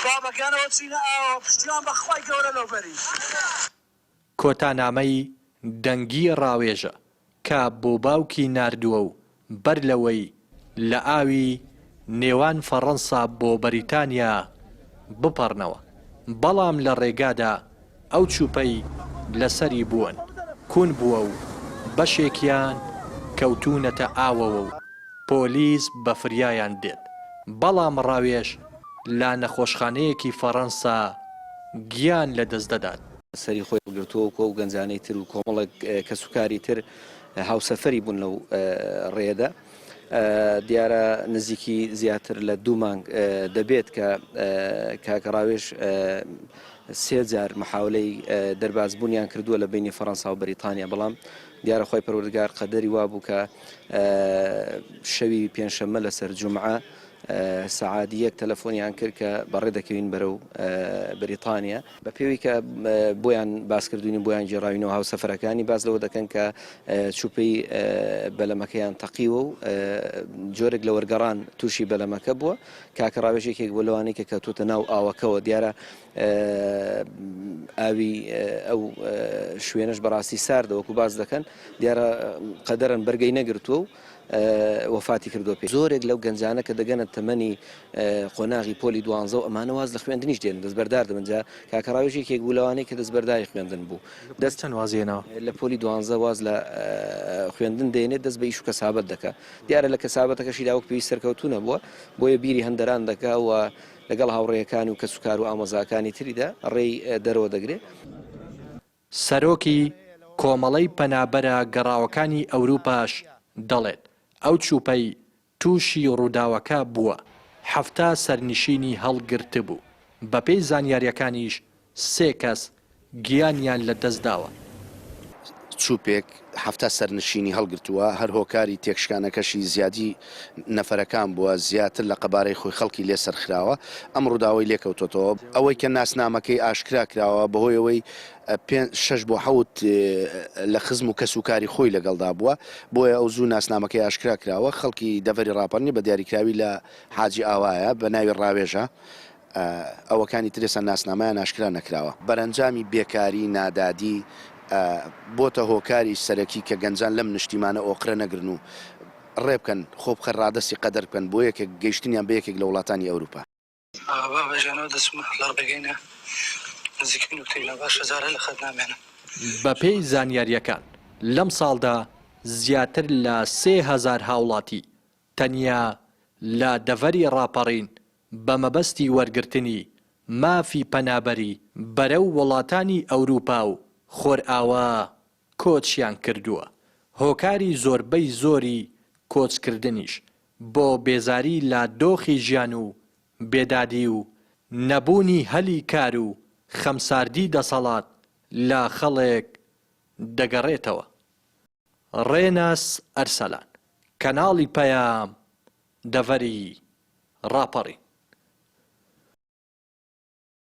با بەگیانەوە بچینە ئاوەوە. پشتیوان بە خوای گەورە لەو بەری. کۆتا نامەی دەنگی ڕاوێژە کە بۆ باوکی ناردووە و بەر لەوەی لە ئاوی نێوان فەڕەنسا بۆ بەریتانیا بپەڕنەوە بەڵام لە ڕێگادا ئەو چوپەی لەسەری بوون کون بووە و بەشێکیان کەوتوونەتە ئاوەوە و پۆلیس بە فریایان دێت، بەڵام ڕاوێژ لە نەخۆشخانەیەکی فەڕەنسا گیان لەدەست دەدات. سەری خۆی هەڵگرتووە و ئەو گەنجانەی تر و کۆمەڵێک کەسوکاری تر هاوسەفەری بوون لەو ڕێیەدا. دیارە نزیکی زیاتر لە دوو مانگ دەبێت کە کاک ڕاوێژ سێ جار محاولەی دەربازبوونیان کردووە لە بینی فەڕەنسا و بەریتانیا بەڵام دیارە خۆی پەروەردگار قەدەری وابوو کە شەوی پێنجشەممە لەسەر جمعە سەعادی یەک تەلەفۆنیان کرد کە بەڕێ دەکەوین بەرەو بەریتانیا بە پێوەی کە بۆیان باس کردوین و بۆیان گێڕاوینەوە هاوسەفەرەکانی باس لەوە دەکەن کە چوپەی بەلەمەکەیان تەقیوە و جۆرێک لە وەرگەڕان تووشی بەلەمەکە بووە کاکە ڕاوێژێکێک بۆ لەوانەیە کە کەوتوتە ناو ئاوەکەەوە دیارە ئاوی ئەو شوێنش بەڕاستی ساردەوەکو باس دەکەن دیارە قەدەرن بەرگەی نەگرتووە و وەفاتی کردووە پێ زۆرێک لەو گەنجانە کە دەگەنە تەمەنی قۆناغی پۆلی دوانزە و ئەمانە واز لە خوێندنیش دێن دەستبەردار دەبن جا کاکە ڕاوێژ یەکێک بوو لەوانەی کە دەستبەرداری خوێندن بوو دەست چەند وازی هێناوە؟ لە پۆلی دوانزە واز لە خوێندن دێنێت دەست بە ئیش و کەسابەت دەکا دیارە لە کەسابەتەکەشیدا وەک پێویست سەرکەوتوو نەبووە بۆیە بیری هەندەران دەکا و لەگەڵ هاوڕێیەکانی و کەسوکار و ئامۆزاکانی تریدا ڕێی دەرەوە دەگرێ. سەرۆکی کۆمەڵەی پەنابەرە گەڕاوەکانی ئەوروپاش دەڵێت، ئەو چوپەی تووشی رووداوەکە بووە، حەفتا سەرنشینی هەڵگرتبوو، بەپێی زانیارییەکانیش سێ کەس گیانیان لەدەستداوە. چوپێک حەفتا سەرنشینی هەڵگرتووە، هەر هۆکاری تێکشکانەکەشی زیادی نەفەرەکان بووە، زیاتر لە قەبارەی خۆی خەڵکی لێ سەرخراوە، ئەم ڕووداوەی لێ کەوتۆتەوە. ئەوەی کە ناسنامەکەی ئاشکرا کراوە بەهۆی ئەوەی پێنج، شەش بۆ حەوت لە خزم و کەس و کاری خۆی لەگەڵدا بووە، بۆیە ئەو زوو ناسنامەکەی ئاشکرا کراوە، خەڵکی دەڤەری ڕاپەڕنی بە دیاریکراوی لە حاجی ئاوایە بە ناوی ڕاوێژە، ئەوەکانی تر ئێستا ناسنامەیان ئاشکرا نەکراوە. بەرەنجامی بێکاری، نادادی، ە، بۆتە هۆکاری سەرەکی کە گەنجان لەم نشتیمانە ئۆقرە نەگرن و ڕێبکەن، خۆبخە ڕادەستی قەدەر بکەن بۆ یەکێک گەیشتنیان بە یەکێک لە وڵاتانی ئەوروپا. بە هەژانەوە دەچمە لە ڕێگەی نە نزیکەی نوکتەی نا باشە جارێ لە خەت نامێنم. بەپێی زانیارییەکان، لەم ساڵدا زیاتر لە سێ هەزار هاوڵاتی تەنیا لە دەڤەری ڕاپەڕین بە مەبەستی وەرگرتنی مافی پەنابەری بەرەو وڵاتانی ئەوروپا و خۆرئاوا کۆچیان کردووە، هۆکاری زۆربەی زۆری کۆچکردنیش بۆ بێزاری لە دۆخی ژیان و بێدادی و نەبوونی هەلی کار و خەمساردی دەسەڵات لە خەڵک دەگەڕێتەوە. ڕێناس ئەرسەلان، کەناڵی پەیام، دەڤەری ڕاپەڕین.